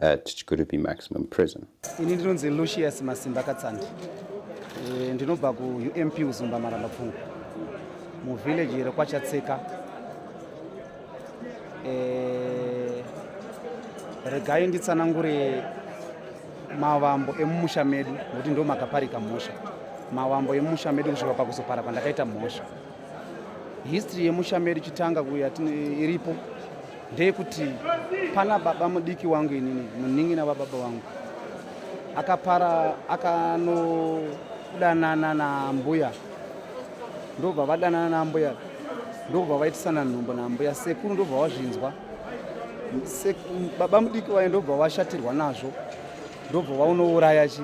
at Chikurupi Maximum Prison. Ini ndinonzi Lucius Masimba Katsandi. E, ndinobva ku UMP Uzumba Maramba Pfungu. Mu village here kwaChatseka. E, eh, regai nditsanangure mavambo emumusha medu nokuti ndo makaparika mhosva. Mavambo emumusha medu kusvika pakuzopara pandakaita mhosva. history yemusha medu chitanga kuya iripo ndeyekuti pana baba mudiki wangu inini munin'ina vababa wangu akapara akanodanana nambuya ndobva vadanana nambuya ndobva vaitisana nhumbo nambuya sekuru ndobva vazvinzwa baba mudiki vaye ndobva vashatirwa nazvo ndobva vaunouraya chi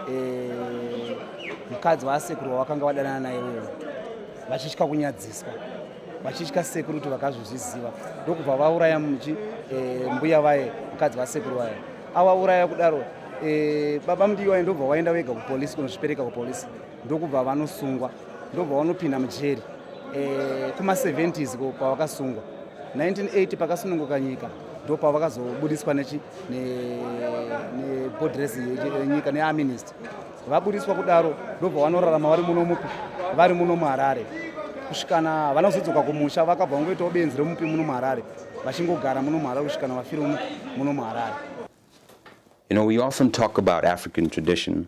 eh, mukadzi waasekuru wawakanga wadanana naye wewe vachitya kunyadziswa vachitya sekuru kuti vakazozviziva ndokubva vauraya muchi eh, mbuya vaye mukadzi vasekuru vaye avauraya kudaro eh, baba mudiwa ndobva waenda wega kupolisi kunozvipereka kupolisi ndokubva vanosungwa ndobva vanopinda mujeri eh, kuma 70s ko pavakasungwa 1980 pakasununguka nyika ndopavakazobudiswa nebodres yenyika neaminist vabudiswa kudaro ndobva vanorarama vari muno mupi vari muno muharare kusvikana vana kuzodzoka kumusha vakabva vangoitawo benzi remupi muno muharare vachingogara muno muharare kusvikana vafira muno muharare You know, we often talk about African tradition,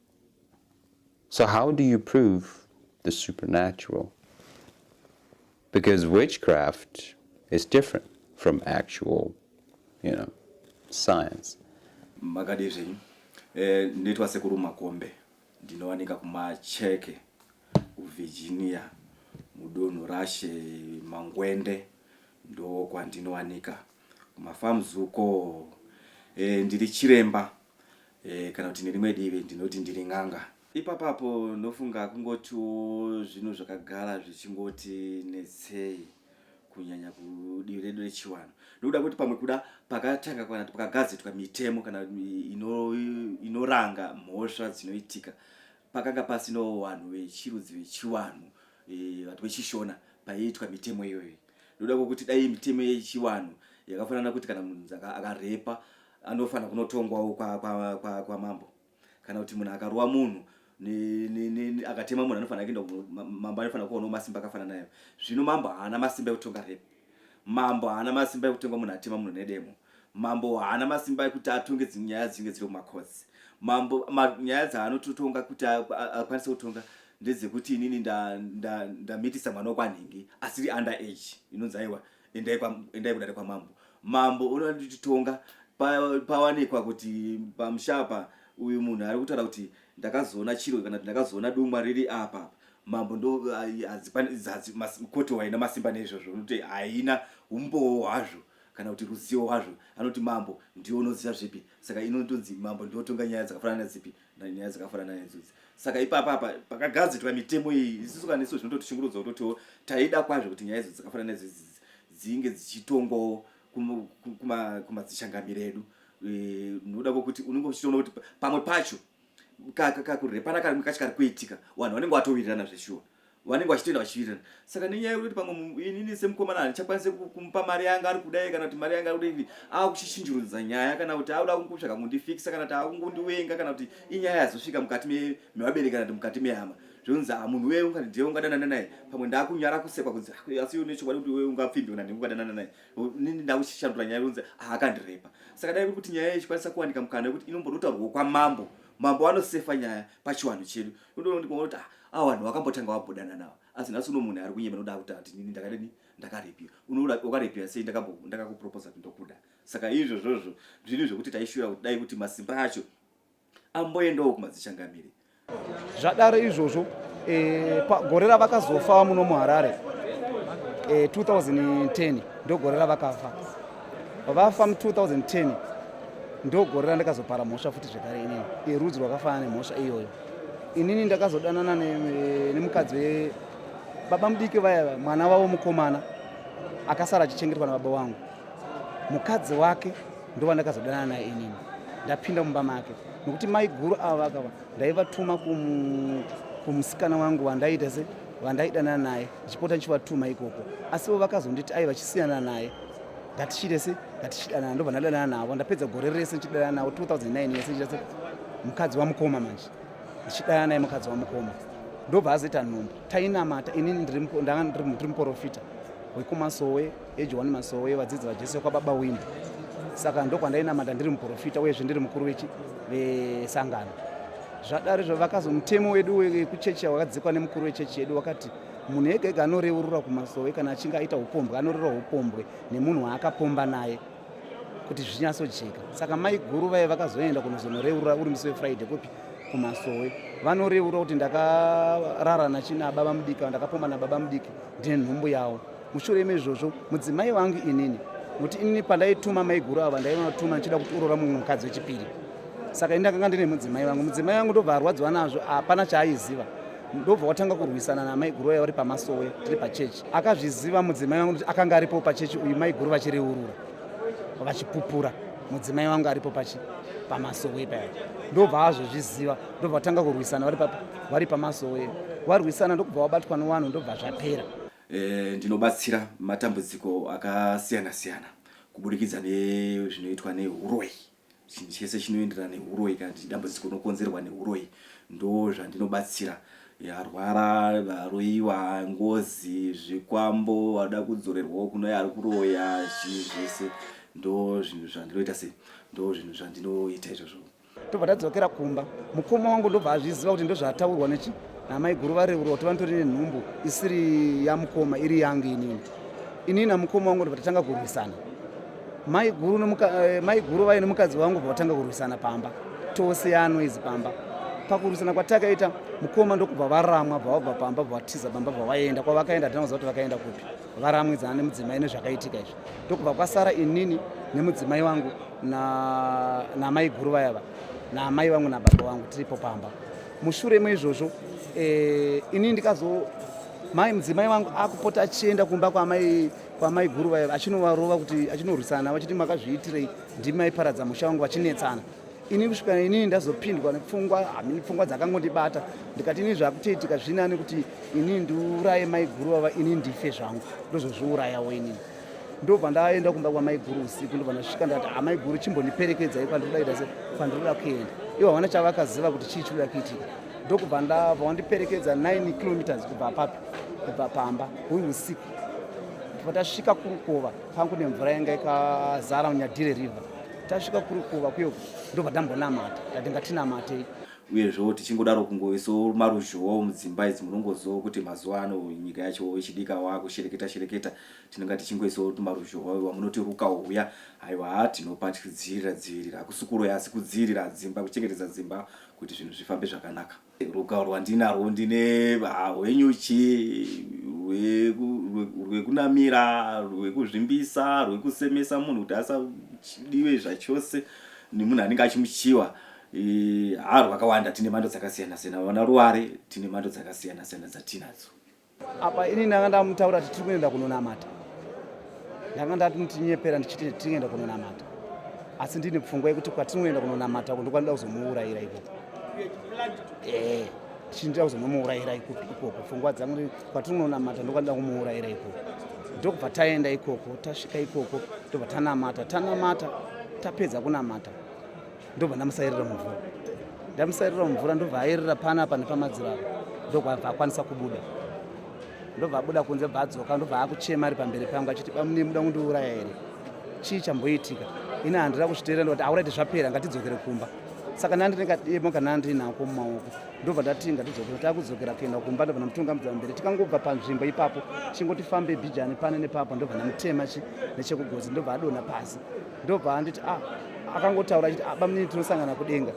So how do you prove the supernatural? Because witchcraft is different from actual, you know, science. Makadii zvenyu? Eh, ndinoitwa sekuru Makombe. Ndinowanika kumacheke kuVirginia mudunhu rashe Mangwende ndokwandinowanika kumafarms uko. Eh, ndiri chiremba e, kana kuti nerimwe divi ndinoti ndiri n'anga ipapapo ndofunga kungotiwo zvinhu zvakagara zvichingoti netsei kunyanya kudivi redu rechiwanhu ndokuda kuti pamwe kuda pakatanga kana kuti pakagadzitwa mitemo kana inoranga ino mhosva dzinoitika pakanga pasinawo vanhu vechirudzi vechiwanhu e, vati vechishona paiitwa mitemo iyoyo ndoda kwokuti dai mitemo yechiwanhu yakafanana kuti kana munhu akarepa anofanira kunotongwawo kwa, kwa, kwa, kwa mambo kana kuti munhu akarova munhu akatema munhu anofanira kuenda mambo anofanira kuonawo masimba akafana nayo zvino mambo haana masimba ekutonga repi mambo haana masimba ekutonga munhu atema munhu nedemo mambo haana masimba ekuti atonge nyaya dzinenge dziri kumacots mambo nyaya dzaanototonga kuti akwanise kutonga ndedzekuti inini ndamitisa mwana wekwanhingi asiri under age inonzi aiwa endai kwa endai kudare kwamambo mambo unonditonga pawanikwa kuti pamushapa uyu munhu ari kutaura kuti ndakazoona chiro kana kuti ndakazoona dumwa riri apa mambo ndo koti waina masimba neizvozvo unokuti haina umbowo hwazvo kana kuti ruzivo hwazvo anoti mambo ndiwo unoziva zvipi saka inotonzi mambo ndiotonga nyaya dzakafanana dzipi nyaya dzakafanana nedzodzi saka ipapa apa pakagadzitwa mitemo iyi isisu kana isu zvinototichingurudza kutotiwo taida kwazvo kuti nyaya idzo dzakafanana nedzodzi dzinge dzichitongwawo kumadzichangamire edu e, noda kwokuti unenge uchitoona kuti pamwe pacho kakurepana karimwe kacho kari kuitika vanhu vanenge vatowirirana zveshuwa vanenge vachitoenda vachivirana saka nenyaya yekuti pamwe inini semukomana handichakwanise kumupa mari yanga ari kudai kana kuti mari yanga ari kudai ava kuchishinjurudza nyaya kana kuti akuda kungotsvaga kundifikisa kana kuti ava kungondiwenga kana kuti inyaya yazosvika mukati mevabereki kana kuti mukati mehama zvonzi ha ah, munhu wee ungati ndiye ungadanana naye pamwe ndakunyara kusekwa kunzi ah, asi une chokwadi kuti wee ungapfimbi kana ndinge ungadanana naye nini ndakuchishandura nyaya yonzi ah, akandirepa saka dai kuti nyaya ichikwanisa kuwanika mukana yekuti inombodotaurwa kwamambo mambo vanosefa nyaya pachiwanhu chedu unoti ah, a vanhu vakambotanga vabhodana navo asi nhasi uno munhu ari kunyema noda kuti ati nini ndakadini ndakarepiwa unoda wakarepiwa sei ndakakuproposa kuti ndokuda saka izvozvozvo zviri zvekuti taishura kuti dai kuti masimba acho amboendawo kumadzichangamire zvadaro izvozvo eh, gore ravakazofa muno muharare 2010 eh, ndogore ravakafa vafa mu 2010 ndogore randakazopara mhosva futi zvekare inini yerudzi rwakafanana nemhosva iyoyo inini ndakazodanana nemukadzi ne baba mudiki vaya mwana vavo mukomana akasara achichengetwa nababa wangu mukadzi wake ndovandakazodanana naye inini ndapinda mumba make nokuti maiguru ava vakava ndaivatuma kumusikana wangu wandaiita se vandaidana naye ndichipota ndichivatuma ikoko asivo vakazonditi aiva chisiyana naye ngatichirese ngatichidanana ndobva ndadanana navo ndapedza gore rese ndichidanana navo 2009 yese ndichirese mukadzi wamukoma manje ndichidanana naye mukadzi wamukoma ndobva azoita nhombo tainamata inini ndiri muporofita wekumasowe ejohani masowe vadzidzi vajesu vekwababa wini saka ndokwandainamata ndiri muprofita uyezve ndiri mukuru vesangano zvadari zvo vakazomutemo wedu wekuchechi wakadzikwa nemukuru wechechi yedu wakati munhu ega ega anoreurura kumasowe kana achinge aita upombwe anoreurura upombwe nemunhu waakapomba naye kuti zvinyatsojeka saka mai guru vaye vakazoenda kunozonoreurura uri musi wefriday kupi kumasowe vanoreurura kuti ndakarara nachina baba mudiki ndakapomba nababa mudiki ndine nhumbu yavo mushure mezvozvo mudzimai wangu inini nokuti inini pandaituma maiguru ava ndaivatuma ndichida kuti urora mumwe mukadzi wechipiri saka ini ndakanga ndine mudzimai wangu mudzimai wangu ndobva arwadziwa nazvo hapana chaaiziva ndobva watanga kurwisana namaiguru aya vari pamasowe tiri pachechi akazviziva mudzimai wangu kuti akanga aripo pachechi uyu maiguru vachireurura vachipupura mudzimai wangu aripo pachi pamasowe paya ndobva azozviziva ndobva watanga kurwisana vari pamasowe warwisana ndokubva wabatwa newanhu ndobva zvapera Eh, ndinobatsira matambudziko akasiyana siyana kuburikidza nezvinoitwa neuroyi chinhu chese chinoenderana neuroyi kana kuti dambudziko rinokonzerwa neuroyi ndo zvandinobatsira arwara varoyiwa ngozi zvikwambo vada kudzorerwawo kuno ari kuroya chii zvese ndo zvinhu zvandinoita sei ndo zvinhu zvandinoita izvozvo tobva tadzokera kumba mukoma wangu ndobva azviziva kuti ndozvataurwa nechi namai guru vareurwa kuti vanotori nenhumbu isiri yamukoma iri yangu inini inini namukoma wangu ndobva tatanga kurwisana mai guru eh, mai guru vaye nemukadzi wangu bva vatanga kurwisana pamba tose yanoizi pamba pakurwisana kwatakaita mukoma ndokubva varamwa bva vabva pamba bva vatiza pamba bva vaenda kwavakaenda hatina kuziva kuti vakaenda kupi varamwidzana nemudzimai nezvakaitika izvi ndokubva kwasara inini nemudzimai wangu namai guru vayava naamai vangu nababa vangu tiripo pamba mushure meizvozvo eh, inini ndikazo mai mudzimai wangu akupota achienda kumba kwamai kwamai guru vaya vachinovarova kuti achinorwisana navo achiti makazviitirei ndimi maiparadza musha wangu vachinetsana ini kusvika inini ndazopindwa nepfungwa hamini pfungwa dzakangondibata ndikati inini zvakutoitika zvini ani kuti inini ndiuraye maiguru vava inini ndife zvangu ndozozviurayawo inini ndobva ndaenda kumba kwamaiguru usiku ndobva ndasvika ndati amaiguru ah, chimbondiperekedzai kwandikudaita se kwandikuda kuenda ivo havana chavakaziva kuti chii chikuda kuitika ndokubva ndabva wandiperekedza 9 kilometers kubva apapi kubva pamba huri usiku ndobva tasvika kurukova pangu nemvura yanga ikazara munyadire river tasvika kuri kuva kuyo ndobva tambonamata tati ngatinamatei uyezvewo tichingodaro kungoisawo maruzhowawo mudzimba idzi munongozivawo kuti mazuva ano nyika yacho ichidika wakushereketa shereketa tinenge tichingoisawo tumaruzhowa iwa munoti ruka uya haiwa ha tinopa tichidzivirira dzivirira hakusi kuroya asi kudzivirira dzimba kuchengetedza dzimba kuti zvinhu zvifambe zvakanaka Ruka rwandinarwo ndine ah, rwenyuchi rwekunamira rwekuzvimbisa rwekusemesa munhu kuti asadiwe zvachose nemunhu anenge achimuchiwa haa rwakawanda tine mhando dzakasiyana siyana vana ruware tine mhando dzakasiyana siyana dzatinadzo apa ini ndanga ndamutaura kuti tiri kuenda kunonamata ndanga ndatinyepera ndichiti tiri kuenda kunonamata asi ndine pfungwa yekuti kwatinoenda kunonamata uko ndokwanida kuzomuurayira ikoko ee eh, tichindida kuzonomuurayira ikoko pfungwa dzangu kwatinononamata ndokwanida kumuurayira ikoko ndokubva taenda ikoko tasvika ikoko ndobva tanamata tanamata tapedza kunamata ndobva ndamusairira mumvura ndamusairira mumvura ndobva airira pana apa nepamadziro apa ndokwabva akwanisa kubuda ndobva abuda kunze bva adzoka ndobva akuchema ari pamberi pangu achiti bamune muda kundiuraya here chii chamboitika ini handira kuzviteerera ndoti auraiti zvapera ngatidzokere kumba saka nandine kademo kana andinako mumaoko ndobva ndati ngatidzokere takudzokera kuenda kumba ndobva ndamutunga mudza mberi tikangobva panzvimbo ipapo chingotifambe bijani pane nepapo ndobva ndamutema chi nechekugozi ndobva adona pasi ndobva anditi ah, akangotaura achiti ah, bamunini tinosangana kudenga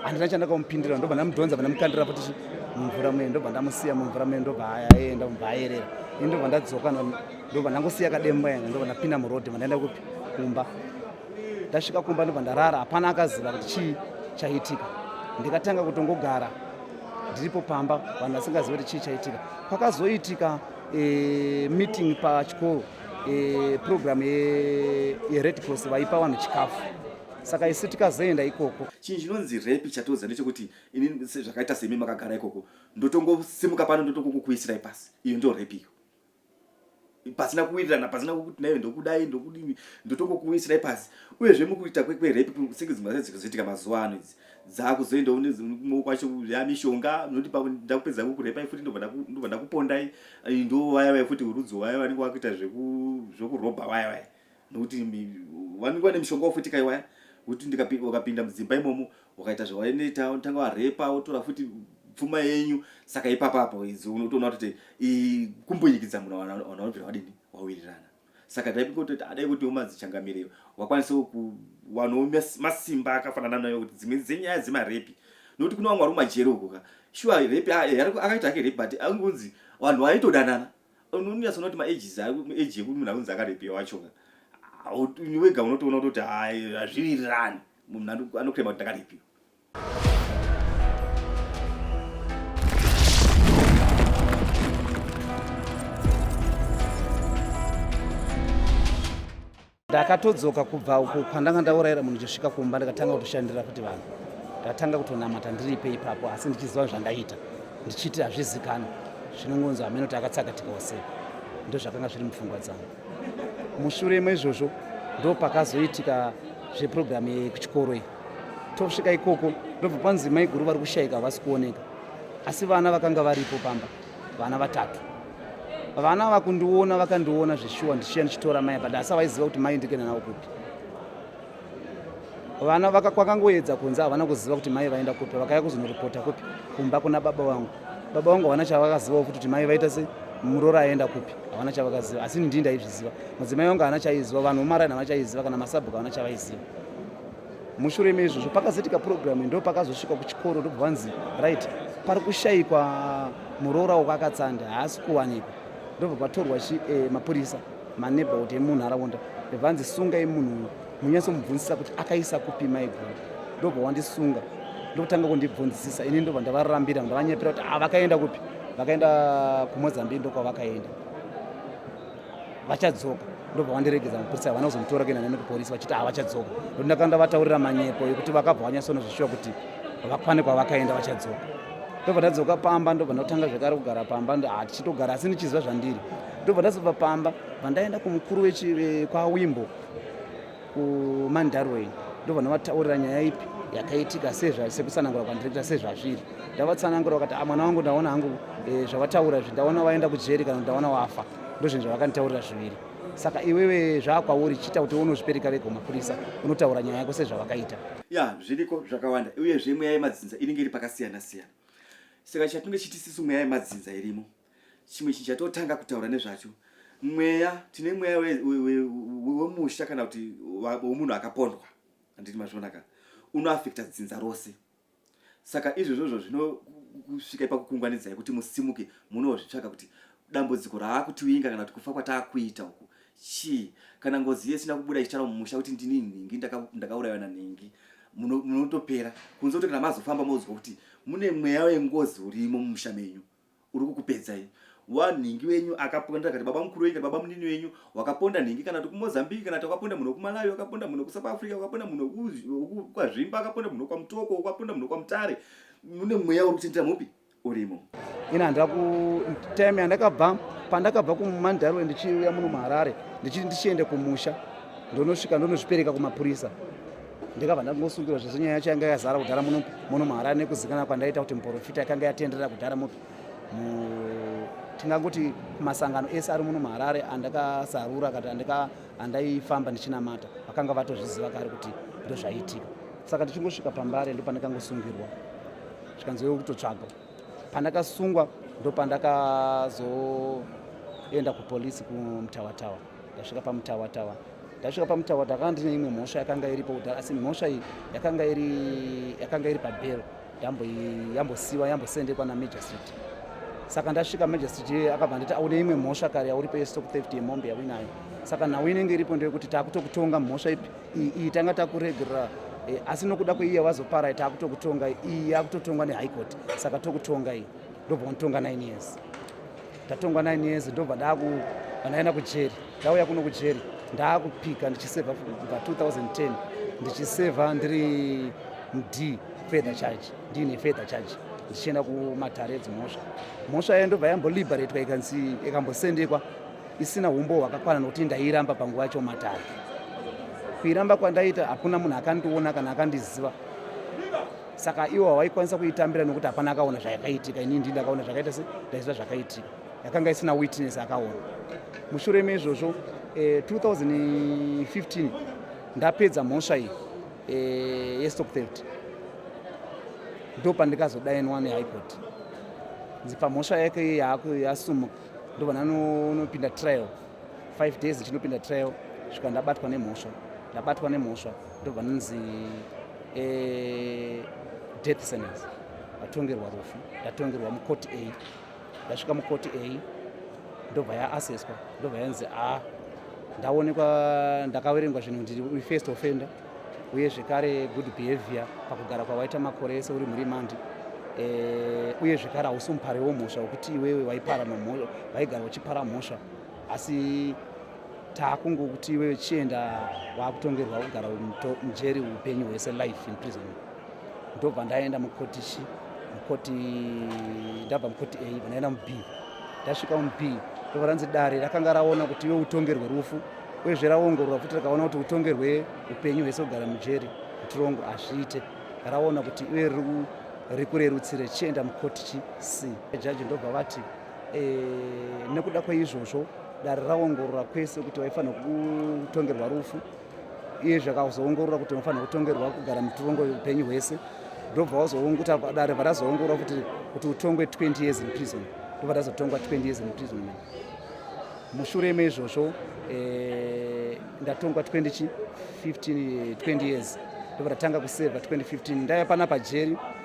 handina chandakamupindira ndobva ndamudhonza vandamukandira futi mumvura muye ndobva ndamusiya mumvura muye ndobva aenda mubva ayerera ini ndobva ndadzoka ndobva ndangosiya kademba yanga ndobva ndapinda murodi vandaenda kupi kumba ndasvika kumba ndobva ndarara hapana akaziva kuti chii chaitika ndikatanga kutongogara ndiripo pamba vanhu vasingazivi kuti chii chaitika kwakazoitika eh, meeting pachikoro e, program yered ye cross vaipa vanhu chikafu saka isu tikazoenda ikoko chinhu chinonzi repi chatoudza ndechekuti ini zvakaita semi makagara ikoko ndotongosimuka pano ndotongokukuisirai pasi iyo ndo repi iyo pasina kuwirirana pasina kukuti nayo ndokudai ndokudini ndotongokuisirai pasi uyezve mukuita kwerepi senge dzimwe dzazviri kuzoitika mazuva ano idzi dzakuzoendawo nekumwe kwacho ya mishonga noti ndakupedza kukurepai futi ndobva ndakupondai eh, ndo vaya vaya futi urudzi waya vanenge vakuita zvekurobha vaya vaya nokuti vanenge vane mishonga wafuti kai waya kuti ukapinda mudzimba imomo ukaita zvawainoita unotanga warepa wotora futi pfuma yenyu saka ipapapo idzo unotoona kuti kumbunyikidza munhu wanaobvira wadini wawirirana saka dai kungototi adai kuti umadzichangamire wakwanisawo kuwanawo masimba akafanana nayo kuti dzimwe dzenyaya dzemarepi nokuti kune vamwe vari mumajeri uko ka shuwa repi akaita ake repi but angonzi vanhu vaitodanana unonyasa unoti maages age yekuti munhu akunzi akarepiwa wacho ka wega unotoona kutoti hazvirirani munhu anokurema kuti ndakarepiwa ndakatodzoka kubva uko kwandanga ndaurayira munhu ndichisvika kumba ndikatanga kutoshandira kuti vanhu ndatanga kutonamata ndiripe ipapo asi ndichiziva zvandaita ndichiti hazvizikana zvinongonzi hameno ti akatsakatika wase ndozvakanga zviri mupfungwa dzangu mushure meizvozvo ndopakazoitika zvepurogiramu yekuchikoro iyi tosvika ikoko ndobva panzi maiguru vari kushaika havasi kuoneka asi vana vakanga varipo pamba vana vatatu vana vakundiona vakandiona zveshuwa ndichiya ndichitora mai but asi avaiziva kuti mai ndikenda navo kupi vana kwakangoedza kunze havana kuziva kuti mai vaenda kupi vakaya kuzonoripota kupi kumba kuna baba vangu baba vangu havana chavakazivawo futi kuti mai vaita se murora aenda kupi havana chavakaziva asi ndii ndaizviziva mudzimai vangu havana chaiziva vanhu vomaraini havana chaiziva kana masabhuku havana chavaiziva mushure meizvozvo pakazoitika purogiramu ndo pakazosvika kuchikoro ndobva vanzi right pari kushayikwa muroora wako akatsanda haasi kuwanikwa ndobva patorwa eh, mapurisa maneighborhood emunharaunda vanzi sungai munhu uyu munyatsomubvunzisa kuti akaisa kupi maiguru ndobva wandisunga ndokutanga kundibvunzisisa ini ndobva ndavarambira ndavanyepera kuti ah, vakaenda kupi vakaenda kumozambique ndokwavakaenda vachadzoka ndobva vandiregedza mapurisa havana kuzomutora kuenda neni kupolisi vachiti havachadzoka ndokuti ndakanda vataurira manyepo yekuti vakabva vanyasona zvishuwa kuti vakwane kwavakaenda vachadzoka ndobva ndadzoka pamba ndobva ndotanga zvekare kugara pamba hatichitogara asi ndichiziva zvandiri ndobva ndazobva pamba vandaenda kumukuru kwawimbo kumandarwei ndovanovataurira nyaya ipi yakaitika sekutsanangura kwandirekita sezvazviri ndavatsanangura vakati ah, mwana wangu ndaona hangu eh, zvavataura zvi ndaona vaenda kujeri kana ndaona wafa ndozvinhu zvavakanditaurira zviviri saka iwewe zvaakwauri chiita kuti unozvipereka vega kumapurisa unotaura nyaya yako sezvavakaita ya zviriko zvakawanda uyezve mweya yemadzinza inenge iri pakasiyana siyana saka chatinenge chitisisu mweya yemadzinza irimo chimwe chinhu chatotanga kutaura nezvacho mweya tine mweya wemusha kana kuti wemunhu akapondwa handiti mazvionaka unoafekta dzinza rose saka izvozvozvo zvinokusvika ipakukungwanidza yekuti musimuke munozvitsvaka kuti dambudziko raakutiwinga kana kuti kufa kwataakuita uku chii kana ngozi yesina kubuda ichitaura mumusha kuti ndini nhingi ndakaurayiwa nanhingi munotopera kunze kuti kana mazofamba mozwa kuti mune mweya wengozi urimo mumusha menyu uri kukupedzai wa nhingi wenyu akaponda kati baba mukuru wenyu kati baba munini wenyu wakaponda nhingi kana tokumozambique kana takaponda munhu wekumalawi wakaponda munhu wekusouth africa wakaponda munhu wekwazvimba akaponda munhu wekwamutoko wakaponda munhu wekwamutare mune mweya uri kuchenjera mupi urimo ini handira kutime yandakabva pandakabva kumandarwe ndichiuya muno muharare ndichiti ndichiende kumusha ndonosvika ndonozvipereka kumapurisa ndikabva ndangosungirwa zvese nyaya yacho yanga yazara kudhara muno muno muharare nekuzikana kwandaita kuti muporofita yakanga yatenderera kudhara mupi tingangoti masangano ese ari muno muharare andakazarura kati andaifamba ndichinamata vakanga vatozviziva kari kuti ndozvaiitika saka ndichingosvika pambare ndopandakangosungirwa zvikanzi wewe kutotsvaga pandakasungwa ndopandakazoenda kupolisi kumutawatawa ndasvika pamutawa tawa ndasvika pamutawa ndakanga ndine imwe mhosva yakanga iripo kudhara asi mhosva iyi yakanga iri yakanga iri pabhero yambosiwa yambosendekwa namagistrate saka ndasvika magistrate iye akabva nditi aune imwe mhosva kare yauripo yestock theft yemombe yauinayo saka nhau inenge iripo ndeyekuti taakutokutonga mhosva ipi iyi tanga takuregerera eh, asi nokuda kweiyi yawazopara taakutokutonga iyi yakutotongwa nehigh court saka tokutonga iyi ndobva untonga nine years ndatongwa 9 years ndobva ndaku vandaenda kujeri ndauya kuno kujeri ndaakupika ndichiseva kubva 2010 ndichiseva ndiri md fether charge ndiine fether charge ndichienda kumatare edzimhosva mhosva yayo ndobva yamboliberatwa ikanzi ikambosendekwa isina humbo hwakakwana nokuti ndairamba panguva yacho matare kuiramba kwandaita hakuna munhu akandiona kana akandiziva saka iwo hawaikwanisa kuitambira nokuti hapana akaona zvayakaitika inini ndii ndakaona zvakaita se ndaiziva zvakaitika yakanga isina witness akaona mushure meizvozvo eh, 2015 ndapedza mhosva iyi eh, yestock theft ndo pandikazodainwa nehigh court nzipa mhosva yake yasumuka ndo vananonopinda trial five days ndinopinda trial svika ndabatwa nemhosva ndabatwa nemhosva ndobva ndinzi eh, death sentence ndatongerwa rufu ndatongerwa mukoti a ndasvika mukoti a ndobva yaaseswa ndobva yanzi a ndaonekwa ndakaverengwa zvinhu ndiri uri first offender uye zvekare good behavior pakugara kwawaita makore ese uri murimandi eh, uye zvekare hausi mupari womhosva wekuti iwewe waipara nomhosva waigara uchipara mhosva asi takungokuti iwewe chienda wakutongerwa kugara mujeri upenyu hwese life in prison ndobva ndaenda mukoti chi mukoti ndabva mukoti a vanaenda mub ndasvika mub ndobva ranzi dare rakanga raona kuti iwe utongerwe rufu uyezve raongorora futi rakaona kuti utongerwe upenyu hwese kugara mujeri mutirongo hazviite raona kuti iwe riri kurerutsire chienda mukoti chi c jaji ndobva vati e, nekuda kweizvozvo dare raongorora kwese kuti vaifanira kutongerwa rufu iye zvakazoongorora kuti vanofanira kutongerwa kugara mutorongo upenyu hwese ndobva vazoonguta dare varazoongorora kuti kuti utongwe 20 years in prison ndobva razotongwa 20 years in prison man mushure meizvozvo eh, ndatongwa 20 15 20 years ndobva ratanga kuseva 2015 ndaiva pana pajeri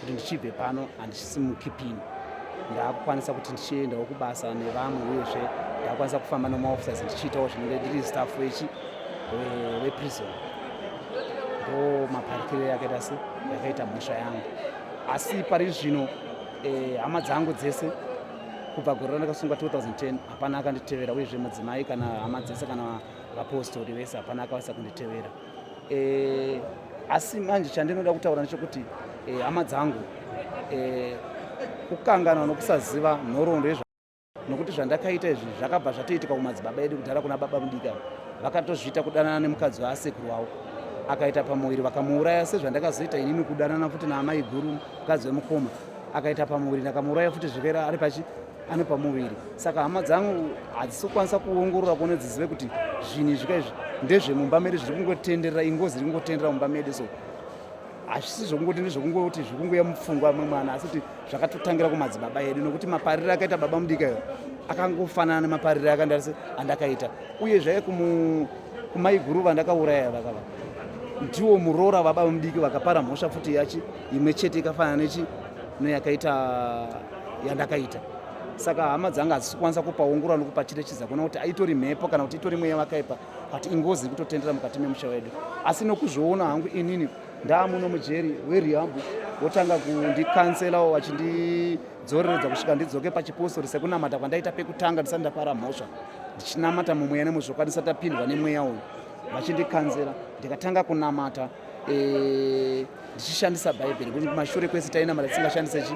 kuti ndichibve pano handisimuki pini ndakukwanisa kuti ndichiendawo kubasa nevamwe uyezve ndakukwanisa kufamba nemaofficers ndichiitawo zvinenge ndiri staff wechi weprison ndo maparikiro yakaita se yakaita mhosva yangu asi pari zvino eh, hama dzangu dzese kubva gore randakasungwa 2010 hapana akanditevera uyezve mudzimai kana hama dzese kana vapostori vese hapana akavasa kunditevera eh, asi manje chandinoda kutaura ndechekuti eh, hama dzangu eh, kukanganwa nokusaziva nhoroondo yezva nokuti zvandakaita izvi zvakabva zvatoitika kumadzibaba edu kudhara kuna baba mudika vakatozviita kudanana nemukadzi waasekuru wavo akaita pamuviri vakamuuraya sezvandakazoita inini kudanana futi naamai guru mukadzi wemukoma akaita pamuviri ndakamuuraya futi zvirera ari pachi ane pamuviri saka hama dzangu hadzisi kukwanisa kuongorora kuone dzizive kuti zvinhu izvika izvi ndezvemumba medu zviri kungotenderera ingozi iri kungotenderera mumba medu so hazvisi zvokungoti ndezvokungoti zviri kungoya mupfungwa amwe mwana asi kuti zvakatotangira kumadzibaba edu nokuti maparire akaita baba mudika iyo akangofanana nemaparire akandarisi andakaita uye zvaive kumaiguru vandakauraya vakava ndiwo muroora vababa mudiki vakapara mhosva futi yachi imwe chete ikafanana nechi neyakaita yandakaita saka hama dzanga hadzisi kukwanisa kupaongorora nokupacherechedza kuona kuti aitori mhepo kana kuti itori mweya vakaipa but ingozi iri kutotendera mukati memusha wedu asi nokuzviona hangu inini ndaamuno mujeri werihabhu votanga kundikanselawo vachindidzoreredza kusvika ndidzoke pachipostori sekunamata kwandaita pekutanga ndisati ndapara mhosva ndichinamata mumweya nemuzvokwadi ndisati apindwa nemweya uyu vachindikanzera ndikatanga kunamata eh, ndichishandisa bhaibheri kuti kumashure kwese tainamata tisingashandise chi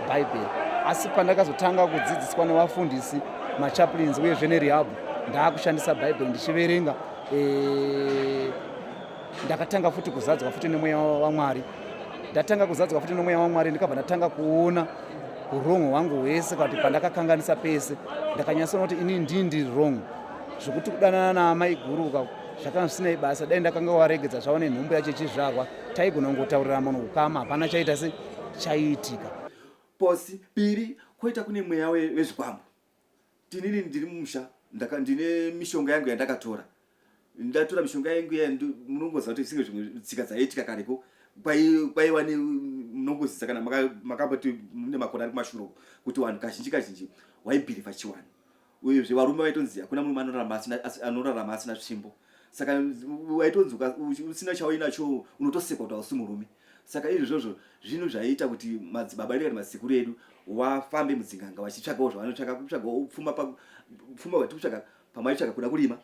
bhaibheri asi pandakazotanga kudzidziswa nevafundisi machaplins uyezve nerihabhu ndaakushandisa bhaibheri ndichiverenga eh, ndakatanga futi kuzadzwa futi nemweya wamwari ndatanga kuzadzwa futi nemweya wamwari ndikabva ndatanga kuona urong hwangu hwese kana kuti pandakakanganisa pese ndakanyatsona kuti ini ndii ndiri rong zvekuti kudanana naamai guru zvakanga zvisinei basa dai ndakanga waregedza zvaone nhumbu yacho ichizvarwa taigona kungotaurira munhu kukama hapana chaita se chaiitika posi piri koita kune mweya wezvikwambo tinini ndiri mumusha ndine mishonga yangu yandakatora ndatora mishonga yangu iya munongoziva kuti zvisinge zvimwe tsika dzaiitika kareko kwaiwa munongoziza kana makamboti mune makona ari kumashure kuti vanhu kazhinji kazhinji waibhirivha chiwani uyezve varume vaitonzi hakuna murume anorarama asina tsvimbo saka waitonzi usina chauinacho unotosekwa kuti hausi murume saka izvozvo zvinhu zvaiita kuti madzibaba edu kana madzikuru edu wafambe mudzinganga vachitsvagawo zvavanotsvaga kutsvagawo pfuma pfuma vati kutsvaga pamwe aitsvaga kuda kurima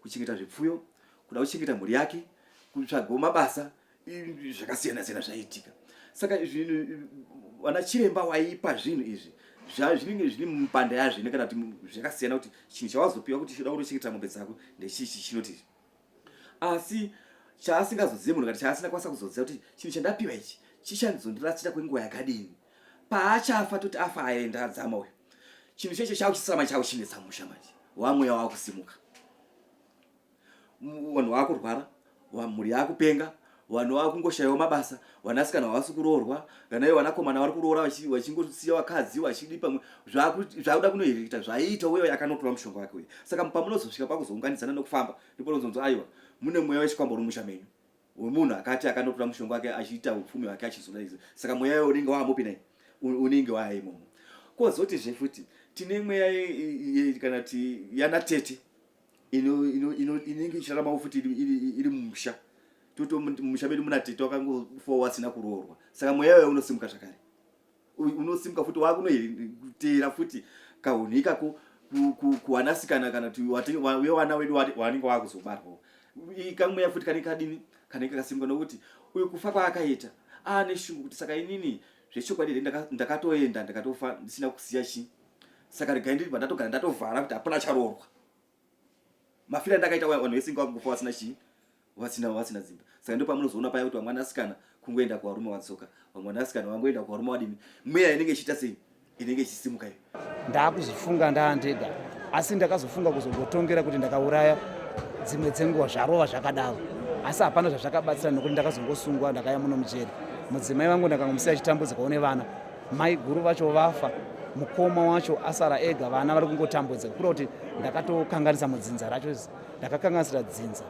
kuchengeta zvipfuyo kuda kuchengeta mhuri yake kutsvagawo mabasa zvakasiyana siyana zvaiitika saka zvinhu vana chiremba waipa zvinhu izvi zvinenge zviri mupanda yazvo ine kana kuti zvakasiyana kuti chinhu chawazopiwa kuti choda kutochengeta mombe dzako ndechichi chinoti asi chaasingazozive munhu kati chaasina kwanisa kuzoziva kuti chinhu chandapiwa ichi chichanzondirasira kwenguva yakadini paachafa toti afa aenda adzama uyo chinhu checho chauchisama chauchinetsa musha manje wamweya wakusimuka vanhu vakurwara mhuri yakupenga vanhu vakungoshayiwa mabasa vanasikana havasi kuroorwa kana ivo vanakomana vari kuroora vachingosiya vakadzi vachidi pamwe zvakuda kunohirikita zvaiita uye akanotora mushonga wake uye saka pamunozosvika pakuzounganidzana nekufamba ndipo nozonzi aiwa mune mweya wechikwambo uri musha menyu wemunhu akati akanotora mushonga wake achiita upfumi hwake achizodaiza saka mweya iwe unenge waamupi nai unenge waaimomo kozotizve futi tine mweya kana ti yanatete inenge ichiraramawo futi iri mumusha toto mumusha medu muna tete wakangofawo wasina kuroorwa saka mweya uya unosimuka zvakare unosimuka futi wakunoteera futi kahunhu ikako kuwanasikana kana kuti wewana wedu wanenge wakuzobarwawo ikamweya futi kanenge kadini kanenge kasimuka nokuti uyu kufa kwaakaita aane shungu kuti saka inini zvechokwadi here ndakatoenda ndikatofa ndisina kusiya chii saka regai ndiri pandatogara ndatovhara kuti hapana charoorwa mafira ndakaita vanhu vese inga vakufa vasina chii vasina vasina dzimba saka ndo pamunozoona paya kuti vamwana asikana kungoenda kuvarume vadzoka vamwana asikana vangoenda kuvarume vadini mweya inenge ichiita sei inenge ichisimuka iyo ndakuzvifunga ndaandega asi ndakazofunga kuzongotongera kuti ndakauraya dzimwe dzenguva zvarova zvakadaro asi hapana zvazvakabatsira nokuti ndakazongosungwa ndakaya muno mujeri mudzimai vangu ndakangomusiya achitambudzikawo nevana maiguru vacho vafa mukoma wacho asara ega vana vari kungotambudzika kura kuti ndakatokanganisa mudzinza racho ndakakanganisira dzinza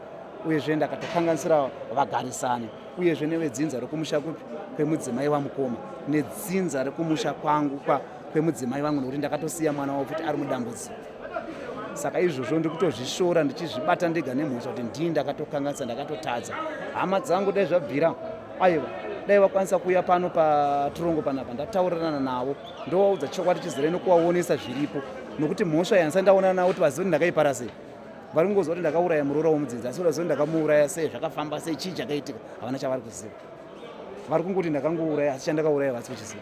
uyezve ndakatokanganisira vagarisani uyezve nevedzinza rekumusha kupi kwemudzimai wamukoma nedzinza rekumusha kwangu kwa kwemudzimai vangu nokuti ndakatosiya mwana wavo kuti ari mudambudziko saka izvozvo ndiri kutozvishora ndichizvibata ndega nemhosva kuti ndii ndakatokanganisa ndakatotadza hama dzangu dai zvabvira aiwa dai vakwanisa kuuya pano patirongo panapa ndataurirana navo ndovaudza chokwadi chizere nokuvaonesa zviripo nokuti mhosva yansa ndaonana navo kuti vazive kuti ndakaipara sei vari kungoziva kuti ndakauraya muroora womudzinza asi vaziva kuti ndakamuuraya sei zvakafamba sei chii chakaitika havana chavari kuziva vari kungoti ndakangouraya asi chandakauraya vasi kuchiziva